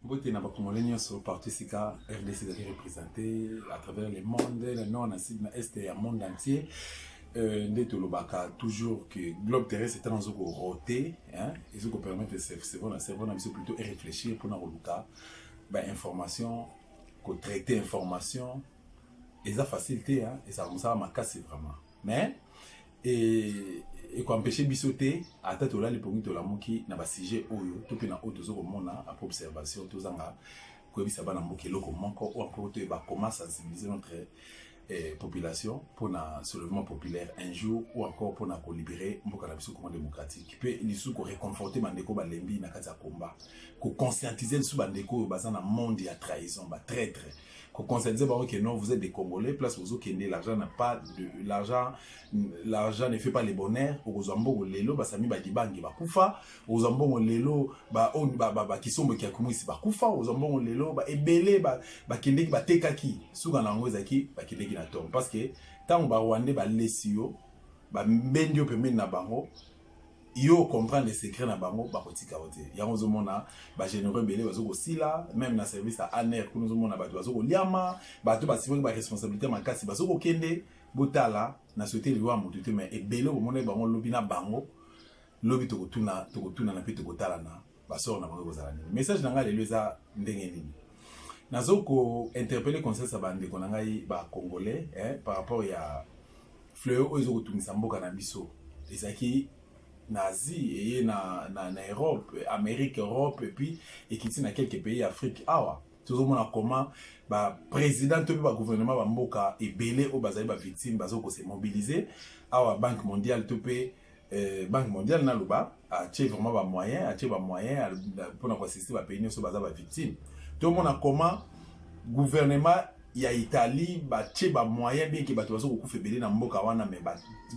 mbote na bakongole nyonso partout esika rdc ezali représente à travers le monde na nord na sud na est ya monde entier euh, nde tolobaka toujours que globe terrestre ntango ezo korote ezo kopermettre cerveau na cerveau na biso plutôt eréfléchir mpona koluka ba information ko traiter information eza facile te hein eza mosala makasi vraiment mais et ekoempeshe biso te ata tolali mpongi tolamuki na basujet oyo to mpe na oyo toza komona apres observation tozanga koyebisa bana mboka eloko moko oyo mpo toyeba comment sensibiliser notre eh, population pona soulèvement populaire un jour ou encore pona ko libérer mboka na biso Congo démocratique pe lisusu ko réconforter bandeko balembi na kati ya combat ko conscientiser lisusu bandeko oyo baza na monde ya trahison ba traître ko conscientiser bango que non vous êtes des Congolais place ozo kende l'argent n'a pas de l'argent l'argent ne fait pas les bonheurs okozwa mboko lelo basami ba dibangi bakufa oza mbongo lelo ba on ba ba, ba kisombo kia kumwisi bakufa oza mbongo lelo ba ebele ba bakendeki batekaki suka na yango ezalaki bakendeki na tongo parce que ntango ba rwandais balesi yo bambendi yo pembeni na bango yo comprendre secret na bango bakotika yo te yango ozomona bagénéraux ebele bazokosila meme na service ya aner kuna ozomona bato bazokoliama bato basimoki baresponsabilité makasi bazokokende botala na sote liwa moto te mai ebele okomonaki bango lobi na bango lobi tokotuna tokotunana mpe tokotalana basore na bango ekozala nini message na ngai lelo eza ndenge nini nazo ko interpelle conscience ya bandeko na ngai ba congolais eh, par rapport ya fleur oyo ezokotungisa mboka na biso ezalaki na asie eye na, na, na europe amérique europe epuis ekiti na quelques pays ya afrique awa tozomona comment baprésident to mpe bagouvernement bamboka ebele oyo bazali bavictime bazokose mobilize awa banque mondiale to mpe Euh, banque mondiale naloba atie vraiment bamoyen atie bamoyen mpona koassiste bapays nyonso baza bavictime tomona comment gouvernement ya italie batie bamoyen bien ke bato baza kokufa ebele na mboka wana mai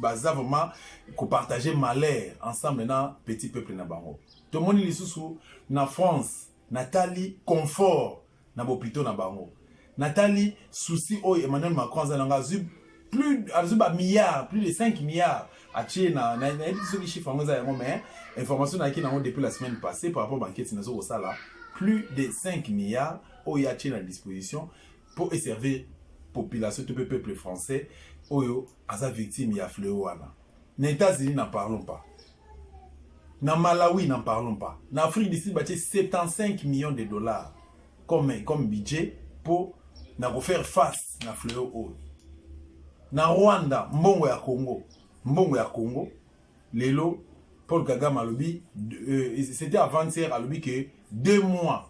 baza vraiment kopartage malheur ensemble na petit peuple na bango tomoni lisusu na france natali confort na bopito na bango natali souci oyo emmanuel macron aza na ngai azwi plus azwi ba milliards plus de 5 milliards atie na nayebi te soki chiffre yango eza yango mais information nayaki nango depuis la semaine passée par rapport banketi nazo kosala plus de 5 milliards oyo atie na disposition mpo eservir population to mpe peuple français oyo aza victime ya fleo wana na Etats-Unis n'en parlons pas na Malawi n'en parlons pas na Afrique du Sud batie 75 millions de dollars comme, comme budget mpo na kofaire face na fleo oyo na Rwanda mbongo ya Congo mbongo ya Congo lelo Paul Kagame alobi euh, c'était avant-hier alobi que deux mois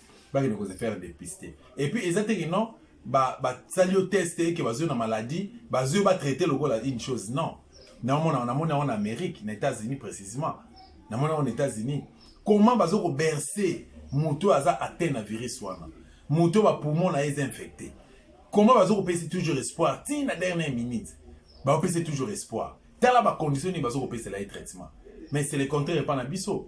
bakende ko se faire dépister et puis eza te que non ba basali yo test eke bazwi na maladie bazwi yo batraite lokola une chose non naomona namoni yango na amérique na états-unis précisément namoni yango na états-unis comment bazo koberse moto oyo aza atteint na virus wana moto oyo bapoumon na ye eza infecté comment bazo kopesa toujours espoir ti na dernière minute bakopesa toujours espoir tala bacondition nini bazo kopesela ye traitement mais c'est le contraire epa na biso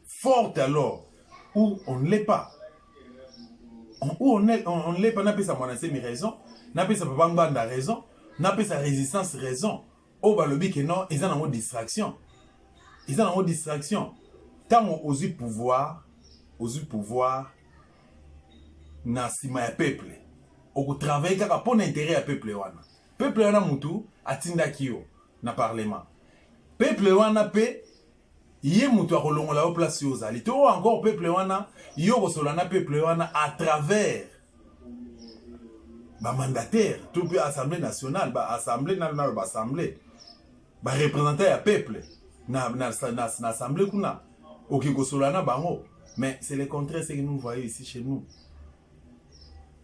forte alors ou on ne l'est pas ou on est on, on l'est pas napesa mwana semi raison napesa papa ngbanda raison napesa résistance raison oyo balobi ke non eza nango distraction eza nango distraction ntango ozwi pouvoir ozwi pouvoir na nsima ya peuple okotravaille kaka mpo na intérêt ya peuple wana peuple wana motu atindaki yo na parlement peuple wana mpe ye mutu akolongola yo place yo ozali to encore peuple wana yo kosolola na peuple wana à travers bamandataire to mpe assemblée nationale baassemblée nano nano baassemblée barepresentant ya peuple na, na, na, na assemblée kuna oke kosolola na bango mais c'est le contraire ce que nous voyons ici chez nous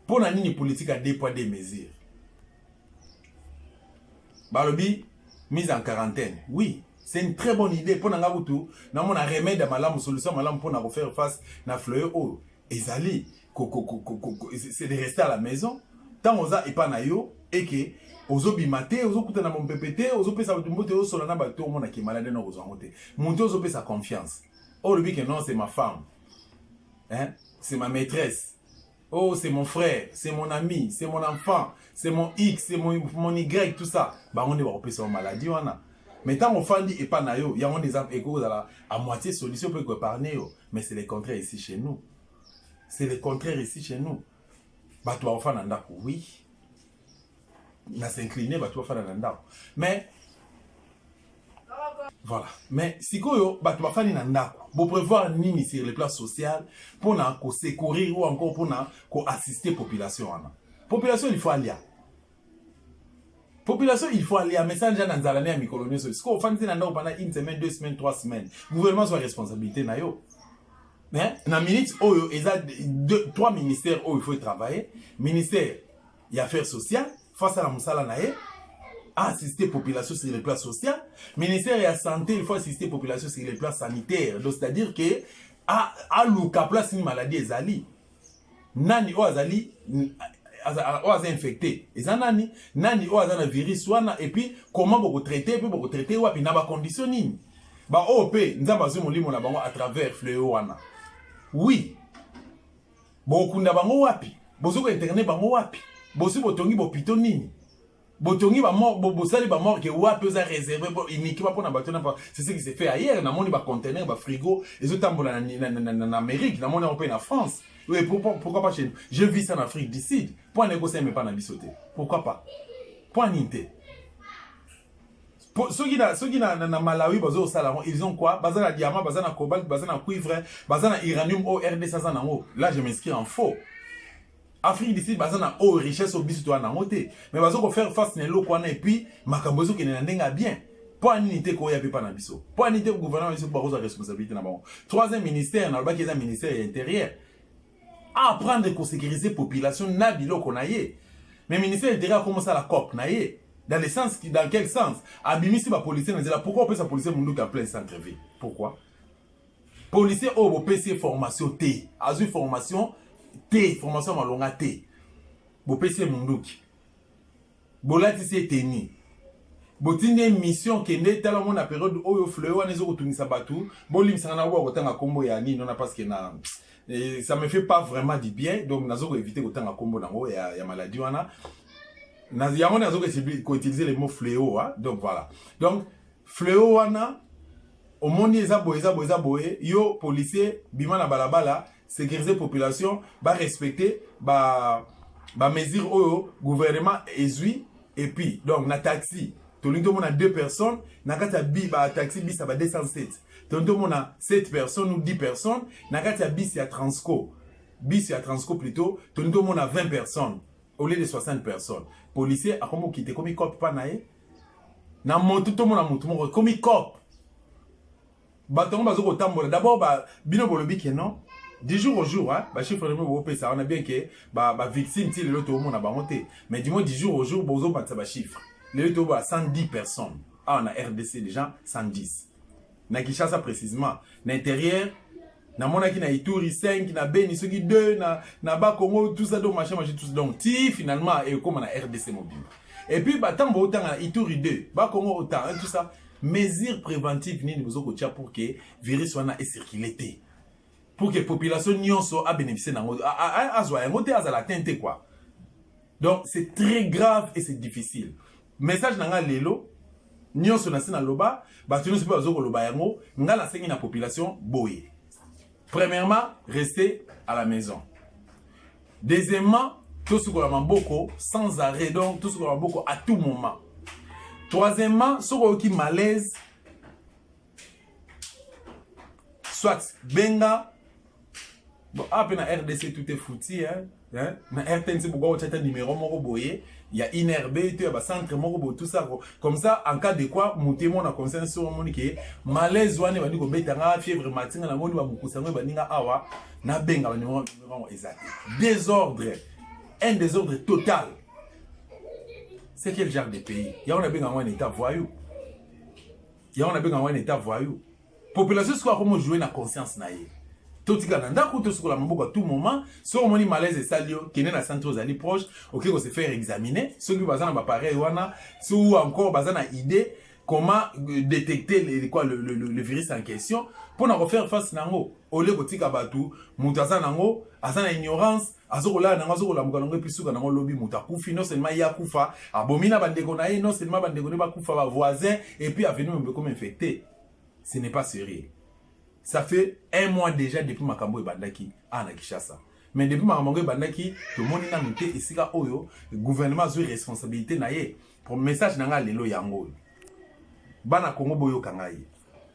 mpo na nini politique ya deux poids deux mesures balobi mise en quarantaine oui c'est une très bonne idée mpo na ngai kutu namona remède ya malamu solution malamu mpo na kofaire face na fleuyo oyo ezali c'est de rester à la maison ntango oza epa na yo eke ozobima te ozokutana mompepe te ozopesa bato mbote osola na bato omona ke malade na kozwa yango te moto ozopesa confiance oyo olobi ke non c'est ma femme hein? c'est ma maîtresse oh c'est mon frère c'est mon ami c'est mon enfant c'est mon x c'est mon, mon y tout ça bango nde bakopesa yo maladie wana mais ntango ofandi epai na yo yango nde eza ekoki kozala à moitié solution mpo ekoepargne yo mais c'est le contraire ici chez nous c'est le contraire ici chez nous bato bakofanda ndako oui na s'incliner bato bafanda na ndako mais voilà mais sikoyo bato bafandi na ndako boprévoir nini sur le plan social mpona kosecourir ou encore mpona koassiste population wana population il faut alia population il faut alia message ya na nzala ne ya mikolo nyonso sikoyo ofandisi na ndako pendant une semaine deux semaines trois semaines gouvernement zwa responsabilité na yo mais na minute oyo eza trois ministères oyo il faut travailler ministère ya affaire sociale faut asala mosala na ye assister population sur le plan social ministère ya santé il faut assister population sur le plan sanitaire donc c'est à dire que aluka place nini maladie ezali nani oyo azali oyo aza infecté eza nani nani oyo aza na virus wana epuis comment bokotraite mpe bokotraite wapi na bacondition nini baoyo mpe nzambe azwi molimo na bango à travers fleo wana oui bokunda bango wapi bozo ko internet bango wapi bosi botongi bopito nini botongi bosali bamorke wapi oza réserve uniquement mpona bato na c'est ce qui se fait ailleurs namoni bacontener bafrigo ezotambola na amérique namoni yango mpe na france oui, pourquoi, pourquoi pas chez nous je vis ça en afrique du sud mpo ana ekosala emepa na biso te pourquoi pas mpo anini te Po soki na soki na, na, na Malawi bazo sala ngo ils ont quoi? Baza na diamant, baza na cobalt, baza na cuivre, baza na uranium au RDC ça na ngo. Là je m'inscris en faux. Afrique du Sud baza na o richesse au biso toi na ngo te. Mais bazo ko faire face na eloko wana et puis makambo ezo kende na ndenga bien. mpo ya nini te koya mpe mpa na biso mpo ya nini te gouvernement biso bakozwa responsabilité na bango troisième ministère nalobaki eza ministère ya intérieur a apprendre ko sécuriser population na biloko na ye mais ministère ya intérieur akomi osala cop na ye dans le sens qui dans quel sens abimisi ba policiers na nzela pourquoi opesa policier munduki en plein centre ville pourquoi policier oyo bopesi ye formation te azwi formation te formation ya malonga te bopesi ye munduki bolatisi ye teni botindi ye mission kende tala mona periode oyo fleur wana ezokotungisa bato bolimbisanga na oyo bakotanga nkombo ya nini wana parce que na Et ça me fait pas vraiment du bien donc nazo ko éviter kotanga kombo nango ya, ya maladie wana na yango nazo ko utiliser le mot fléau hein? donc voilà donc fléau wana omoni eza boye eza boye eza boye yo policier bima na balabala sécuriser population ba respecter ba ba mesure oyo gouvernement ezui et puis donc na taxi tolingi tomona deux personnes na kati ya bi ba taxi bis ya ba 207 tolingi tomona 7 personnes ou 10 personnes na kati ya bis ya transco bis ya transco plutôt tolingi tomona 20 personnes au lieu de 60 personnes policier akomi okite ekomi cope mpa na ye na motu tomona motu moko ekomi cope bato yango bazo kotambola d'abord ba bino bolobi ke non du jour au jour hein, ba chiffre nemo bopesa wana bien ke ba ba victime ti lelo toomona bango te mais du moins du jour au jour bozobakisa ba chiffre lelo tobo ba 110 personnes awa na rdc déjà 110 na kinshasa précisément na intérieur namonaki na ituri 5 na beni soki 2 na, na bakongo tout ça donc machin machin tout ça donc ti finalement ekokoma na rdc mobimba epuis batango baotanga na ituri 2 bakongo ota hein, tout ça mesure préventive nini bozo kotia pour ke virus wana ecircule te pour ke population nyonso abénéficie nango azwa yango te azala tein te kua donc c'est très grave et c'est difficile message na ngai lelo nyonso na se naloba bato nyonso mpe bazo koloba yango ngai nasengi na population boye premièrement rester à la maison deuxièmement tosukola maboko sans arrêt donc tosukola maboko à tout moment troisièmement soki oyoki malaise soit benga bon ah, ape na rdc tout est fouti hein? Hein? na rtnc bokoka kotya ata numero moko boye ya inrb to ya bacentre moko boye tout ça comme ça en cas de quoi moto emona conscience sur omoni ke malaise wana ebandi kobeta nga fièvre matinga namoni bamokusa yango ebandi nga awa nabenga banumero yango eza te désordre un désordre total c'est quel genre de pays yango nabenga yango en état voyou yango nabenga wana eta voyou population sikoyo akomo joue na conscience na ye totika na ndako tosukola maboko tout moment soki omoni malaise esali yo kende na centre ozali proche oke kose faire examiner soki baza na bapareil wana si ou encore baza na idée comment euh, détecter le, quoi, le, le, le virus en question mpo na kofaire face na yango olie kotika bato moto aza na yango aza na ignorance azokolala nango azokolamuka nango epi suka nango lobi moto akufi non seulement ye akufa abomi na bandeko na ye non seulement bandeko ne bakufa bavoisin epuis avenue mombe ekomi infecte ce n'est pas sérieux ça fait un mois déjà depuis makambo ebandaki awa na kinshasa mais depuis makambo yango ebandaki tomoni nanu te esika oyo gouvernement azwi responsabilité na ye message na ngai lelo yango oyo bana kongo boyoka ngai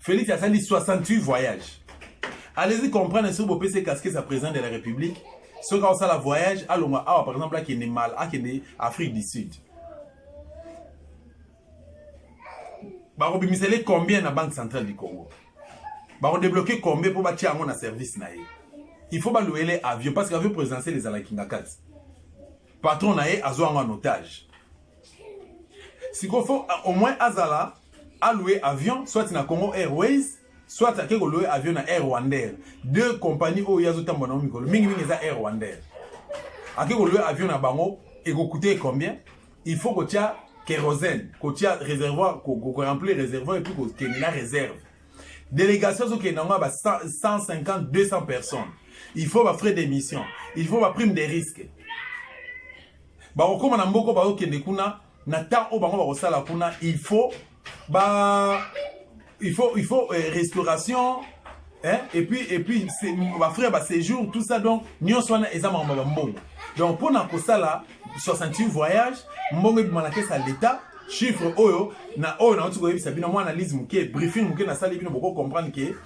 Felix asali 68 voyages. Allez-y comprendre soki bopesi ye casquette ya président de la République soki aosala voyage alongwa awa par exemple akende mal akende Afrique du Sud bakobimisela ye combien na banque centrale du Congo bakodebloke combien mpo batya yango na service na ye il faut balouele avion parce que avion présidentiel ezalaki ngakati patron na ye azwa yango en otage sikoyo fo au moins azala aloue avion soit na congo airways soit ake koloue avion na air rwandair deux compagnie oyo ye azotambwa nango mikolo mingimingi eza air rwandair ake koloue avion na bango ekokute combien il faut kotya kérosène kotya réservoir koremplir réservoir epuis kokende na réserve délégation azokende yango ya ba 150 200 personnes il faut bafrais d'émission il faut baprime des risques bakokoma na mboko bakokende kuna na temps oyo bango bakosala kuna il faut ba il faut il faut eh, restauration hein? et puis et puis bafrère baséjour tout ça donc nyonso wana eza makambo ya mbongo donc mpo na kosala 68 voyage mbongo ebima na kesa leta chiffre oyo na oyo nauti koyebisa bino mwa analyse moke briefing moke nasali bino boko comprendre ke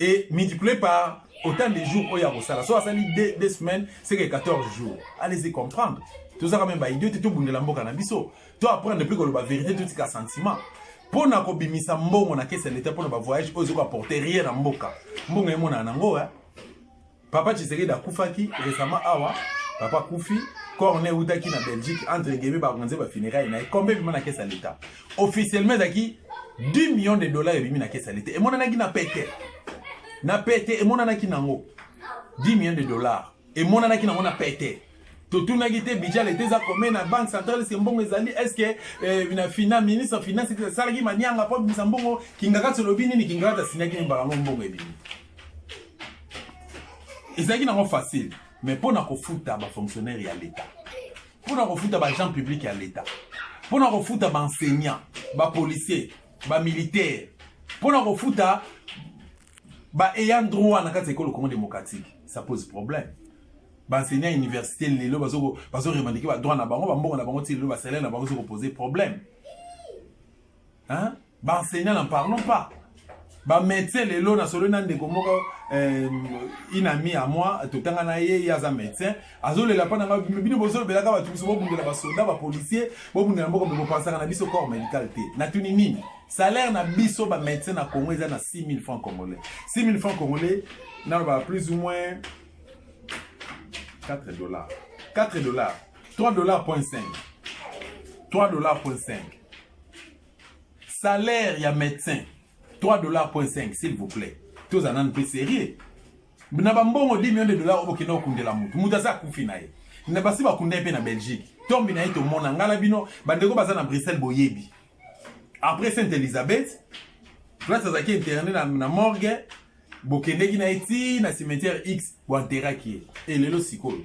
et multiplié par autant de jours oyo akosala so asali deux, deux semaines seke 14 jours allez-y comprendre tozaka meme baidio te tobundela mboka na biso to apprendre mpe koloba verité totika sentiment mpo na kobimisa mbongo na kesi ya leta mpo na bavoyage oyo ezoki apporte rien na mboka mbongo emonana nango eh? Papa Tshisekedi akufaki récemment awa papa kufi corne eutaki na Belgique entre guillemets bakonze ba funérailles na ye combien ebima na kesa l'État officiellement ezalaki 10 millions de dollars ebimi na kesa l'État emonanaki na pete na pete emonanaki nango 10 millions de dollars emonanaki nango na pete totunaki te budget leta eza commun na banque centrale eske mbongo ezali eske eh, na fina ministre ya finance asalaki manianga mpo abimisa mbongo kingakati olobi nini kingakati asinaki nini mbala ngo mbongo ebimi ezalaki nango facile mais mpo na kofuta bafonctionnaire ya leta mpo na kofuta baagent public ya leta mpo na kofuta baenseignant bapolicier bamilitaire mpo na kofuta ba ayant droit na kati ya ekolo Congo démocratique ça pose problème baenseignant ya université lelo bazoremandike badroit na bango bambongo na bango ti lelo basalaire na bango ezo kopose problème baenseignant na parlons pas bamédecin lelo nasololi na ndeko moko euh, inami ya moi totanga na ye ye aza médecin azolela mpa na ngai bino bino bozolobelaka bato biso bobundela basoda bapolisier bobundela mboka mpe bopansaka na biso corps medical te natuni nini salaire na biso bamédecin na congo eza na 6000 francs congolais 6000 francs congolais naloba plus ou moins 4 dollars 4 dollars 3 dollars point 5 3 dollars point 5 salaire ya médecin 3 dollars point 5 s'il vous plaît tozala nanu mpe sérieux na bambongo 10 millions de dollars oyo bokenda kokundela motu motu aza akufi na ye na basi bakunda ye mpe na belgique tombi na ye tomona ngai na bino bandeko baza na bruxelles boyebi après sainte elisabeth place azalaki interne na, na morgue bokendeki na ye ti na cimetière x boanteraki ye e lelo sikoyo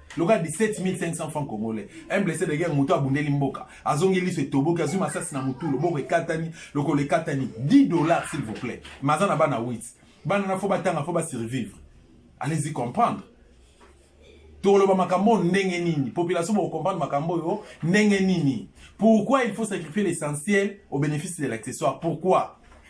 lokola 17500 francs congolais un blessé de guerre moto abundeli mboka azongi liso etoboki azwi masasi na motu loboko ekatani lokolo ekatani 10 dollars s'il vous plaît mais aza na bana 8 bana na fo batanga fo basurvivre allez-y comprendre toloba makambo oyo ndenge nini population bokokomprendre makambo oyo ndenge nini pourquoi il faut sacrifier l'essentiel au bénéfice de l'accessoire pourquoi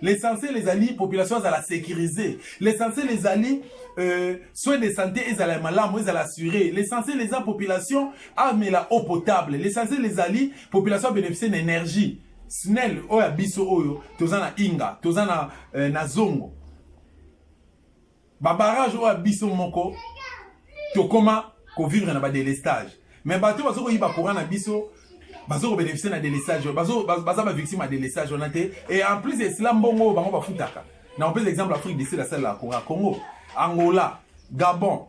L'essentiel ezali population azala sécurisée. L'essentiel ezali euh, soins de santé ezala malamu ezala assuré. L'essentiel eza population amela eau potable. L'essentiel ezali population a bénéficier na énergie. SNEL oyo ya biso oyo toza na Inga, toza na, euh, na Zongo. ba barrage oyo biso moko tokoma ko vivre na ba délestage mais bato bazo koyiba courant na biso bazo ko bénéficier na délestage oyo bazo baza ba victime ya délestage wana te et en plus de cela mbongo oyo bango bafutaka na opesa exemple Afrique du Sud asalela courant Congo Angola Gabon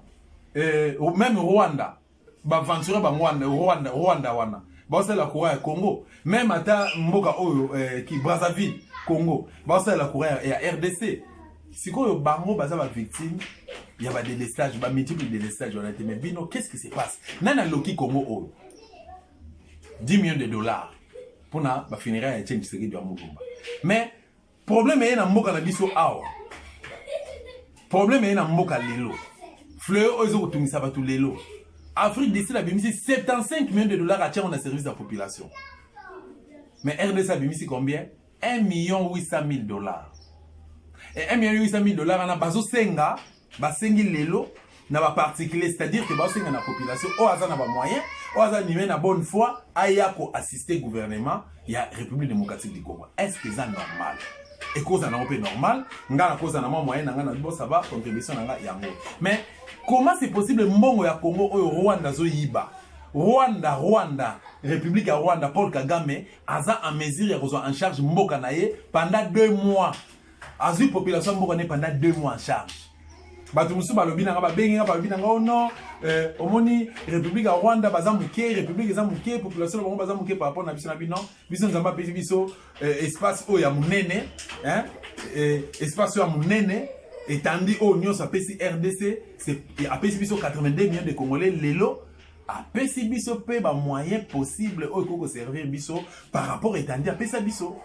euh, même Rwanda baventure bango wana rwanda rwanda wana baosalela courant ya congo meme ata mboka oyo eh, ki brazzaville congo baosalela courant ya, ya rdc sikoyo bango baza bavictime ya badelestage bamultiple delestage wana te mais bino qu'est-ce qui se passe nani aloki congo oyo 10 millions de dollars mpona bafunéraire ya chen tshisekedi ya mulumba mais Problème eye na mboka na biso awa. Problème eye na mboka lelo. Fleur oyo ezokotungisa bato lelo. Afrique du Sud abimisi 75 millions de dollars atiango na service ya population. Mais RDC abimisi combien? 1 million 800 000 dollars. Et 1 million 800 000 dollars wana bazosenga basengi lelo na ba particulier c'est-à-dire que baosenga na population oyo aza na ba moyen oyo aza nime na bonne foi aya ko assister gouvernement ya république démocratique du congo est ce que eza normal ekozala nango mpe normal ngai nakozala na mwa moyen na ngai na bo ça va contribution na ngai yango mais comment c'est possible mbongo ya congo oyo rwanda azoyiba rwanda rwanda république ya rwanda paul kagame aza en mesure ya kozwa en charge mboka na ye pendant deux mois azwi population mboka ne pendant deux mois en charge bato mosusu balobi nanga babengi nga balobi nanga ono oh eh, omoni république ya rwanda baza moke république eza moke population na bango baza moke par rapport na biso na bino biso nzambe apesi biso eh, espace oyo ya monene eh, espace oyo ya monene etandi oyo nyonso apesi rdc apesi biso 82 millions de congolais lelo apesi biso mpe bamoyen possible oyo ekoki koservir biso par rapport etandi apesa biso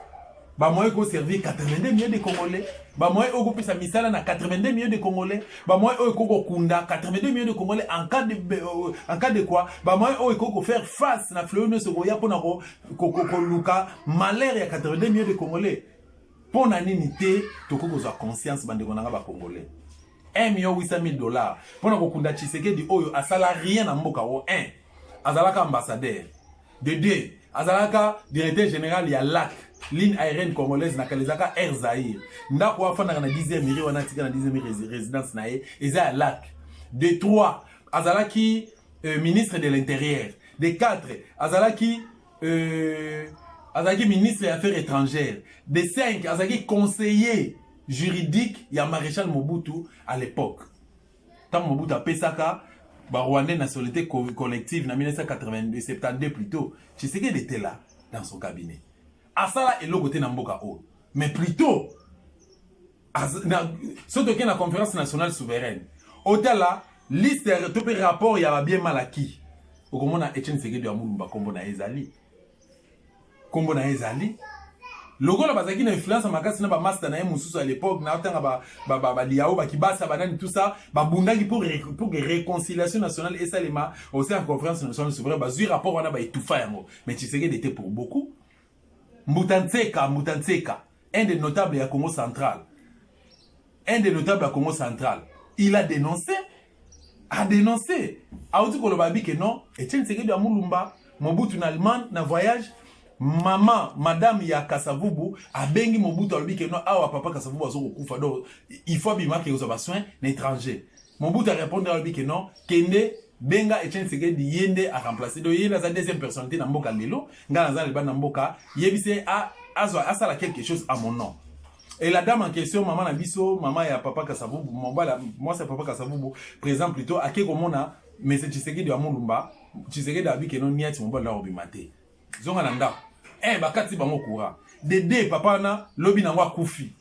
bamoyen ekoki koservir 82 million de congolais bamoyen oyo ekopesa misala na 82 million de congolais bamoyen oyo ekoki kokunda 82 million de congolais en cas de, euh, en cas de quoi bamoyen oyo ekoki kofaire face na fleo nyonso ekoya mpona koluka malheur ya 82 million de congolais mpo na nini te tokoki kozwa conscience bandeko na ngai bacongolais 1 million 800 mille dollars mpo na kokunda tshisekedi oyo asala rien na mboka o 1 azalaka ambassadeur de 2 azalaka directeur général ya lac ligne aérienne congolaise na kalezaka air zaire ndako oyo afandaka na 10e miri wana atika na 10e miri résidence na ye eza ya lac de 3 azalaki euh, ministre de l'intérieur de 4 azalaki euh, azalaki ministre ya affaires étrangères de 5 azalaki conseiller juridique ya Marechal Mobutu à l'époque. Tant Mobutu a pesaka ba Rwandais nationalité collective na 1982 72 plutôt. Tshisekedi était là dans son cabinet. Asala eloko te na mboka oyo. Mais plutôt soki tokei na conférence nationale souveraine otala liste to mpe rapport ya babie malaki okomona etienne sekedu ya mulumba nkombo na ye ezali nkombo na ye ezali lokola bazalaki na influence makasi na bamasta na ye mosusu ya lepoque na ntanga baliao bakibasa banani tout ça babundaki pour réconciliation nationale esalema au sein ya conférence nationale souverain bazwi rapport wana baetufa yango mais tshisekedi ete pour beaucoup mbuta nseka mbuta nseka Un des notables ya Congo central. Un des notables ya Congo central. Il a dénoncé. A dénoncé. Auti koloba abi que non. Etienne Tshisekedi ya Mulumba. Mobutu na Allemagne na voyage. Maman, madame ya Kasavubu abengi Mobutu alobi que non awa papa Kasavubu azokokufa donc il faut abima ke kozwa ba soins na étranger. Mobutu a répondre alobi que non kende benga Etienne Tshisekedi ye nde a remplacer donc ye nde aza deuxième personnalité na mboka lelo ngai naza na libanda na mboka yebise a azwa asala quelque chose à mon nom et la dame en question maman na biso maman ya papa Kasavubu mobala mwasi ya papa Kasavubu présent plutôt ake komona monsieur Tshisekedi ya Mulumba Tshisekedi abi que non niati mobali na kobima te zonga na ndako eh bakati bango courant de deux papa na lobi nango akufi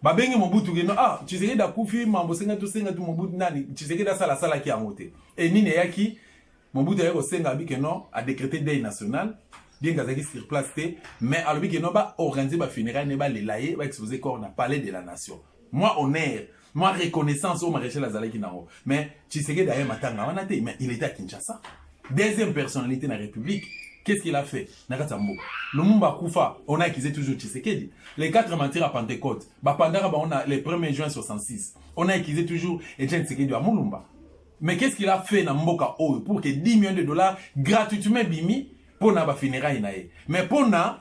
babengi mobutu keno ah tshisekedi akufi mambo senga tosenga tu mobutu nani tshisekedi asala asalaki yango te e nini eyaki mobutu ayaki kosenga abi keno adecrete deuil national bien azalaki sur place te mais alobi keno baorganize bafunérail ne balela ye baexpose corps na palais de la nation moi honneur moi reconnaissance oyo maréchal azalaki nango mais tshisekedi aye matanga wana te mais il était à kinshasa deuxième personnalité na république qu'est-ce qu'il a fait na kati ya mboka lumumba akufa on a accusé toujours tshisekedi les quatre matières à pentecôte bapandaka bango na le 1er juin 66 on a accusé toujours etienne tshisekedi ya mulumba mais qu'est-ce qu'il a fait na mboka oyo pour que 10 millions de dollars gratuitement bimi mpo na bafunérailles na ye mais mpo na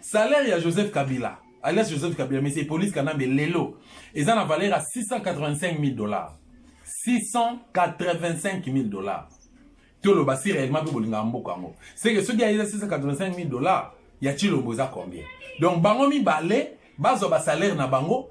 Salaire ya Joseph Kabila alias Joseph Kabila mais c'est police Kanambe lelo eza na valeur ya 685 000 dollars 685 000 dollars toloba si réellement mpe bolingaka mboka yango seke soki ayeza 685 000 dollars ya chilombo eza combien donc bango mibale bazwa basalaire na bango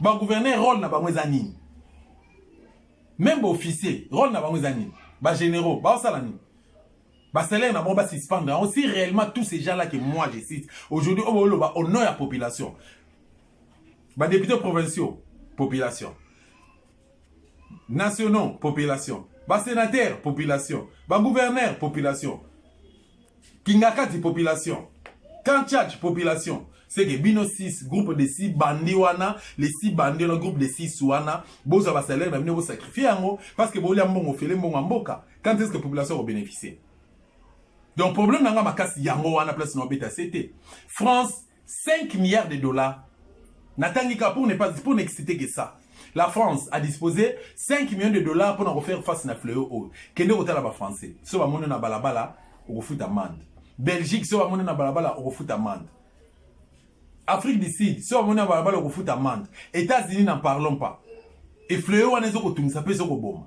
Ba gouverneur rôle na bango eza nini? Même ba officier rôle na bango eza nini? Ba généraux ba osala nini? Ba salaire na bango ba suspendre yango si réellement tous ces gens là que moi je cite aujourd'hui obo loba au nom ya population. Ba députés provinciaux population. nationaux population basenateur population bagouverneur population kingakati population kanchach population seke bino 6 groupe de 6 bandi wana les 6 bandi wana groupe de 6 wana bozwa basalaire na bino bosakrifie yango parce que bolia mbongo fele mbongo ya mboka quand est ce que population ekobénéficie donc problème na ngai makasi yango wana place na obeta se te france 5 milliards de dollars natangi ka pour ne pas pour n'exciter que ça la france a disposé 5 millions de dollars mpona kofaire face na fleo oyo kende kotala bafrançais so bamoni na balabala okofuta mande belgique so bamoni na balabala okofuta mande afrique du sud so bamoni na balabala okofuta mande états-unis na parlons pas efleo wana ezokotungisa mpe ezokoboma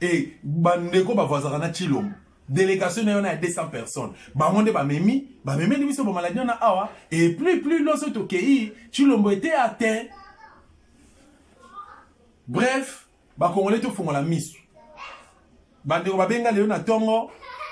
et ba ndeko ba vazaka na Chilombo delegation na yo na ya 200 personnes bango nde bamemi bamemeli biso ba maladie na awa et plus plus loso tokei Chilombo était atteint bref bakongole tofungola miso bandeko babenga lelo na ntongo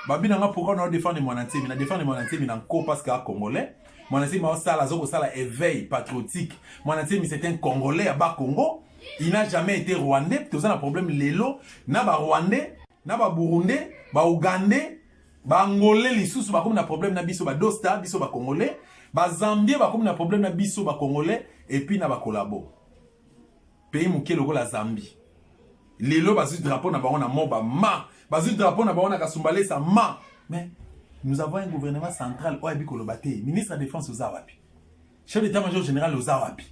babi na nga pourkoi nao defendre mwana nsemi na defendre mwana nsemi na nko parce que a congolais mwana nsemi aosala azokosala éveil patriotique mwana nsemi c'est un congolais ya bakongo il n'a jamais été rwandais toza na problème lelo na ba rwandais na ba burundais ba ougandais ba angolais lisusu bakomi na problème na biso ba dosta biso ba congolais ba zambien bakomi na problème na biso ba congolais et puis na ba collabo pays moke lokola zambie lelo bazwi drapeau na bango na moba ma bazwi drapeau na bango na kasumbalesa ma mais nous avons un gouvernement central oyo ayebi koloba te ministre ya défense oza wapi Chef d'etat major general oza wapi?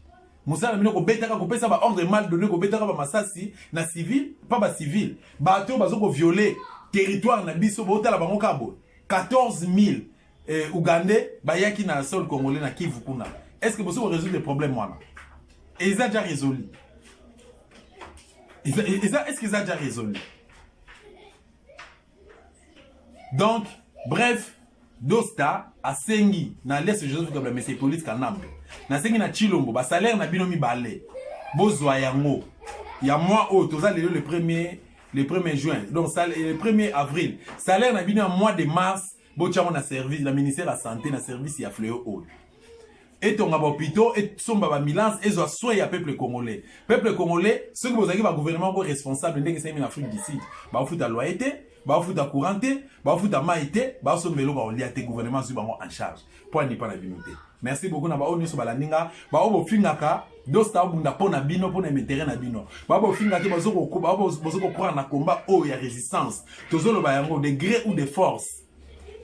mosala bino kobetaka kopesa ba ordre mal donné kobetaka ba masasi na civil pa ba civil bato oyo bazo koviole territoire na biso botala bango kaka boye 14000 eh, ougandais bayaki na sol congolais na kivu kuna est ce que bosi koresoudre problème wana eza ja résolu eza est ce que eza ja résolu donc bref dosta asengi na lese joseph kabila mese polise kanambe nasengi na chilombo basalaire na bino mibale bozwa yango ya mwa oyo toza lelo le premier le premier juin donc le premier avril salaire na bino ya mois de mars Botya yango na service na ministère ya sante na service ya fleo oyo etonga bahopitaux esomba bamilance ezwa soin ya peuple congolais peuple congolais soki bozalaki bagouvernement moko responsable ndenge esalemi na afrique du sud baofuta loye te baofuta courant te baofuta mai te baosomba eloko ya kolia te gouvernement azwi bango en charge mpo anipa na bino te merci beaucoup na baoyo nyonso balandi nga baoyo bofingaka dosta abunda mpo na bino mpo na emetere na bino baoyo bofinga te bozo kokoba na komba oyo ya résistance tozoloba yango de gré ou de force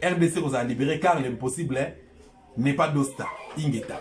rdc kozala libéré car l'impossible n'est pas dosta ingeta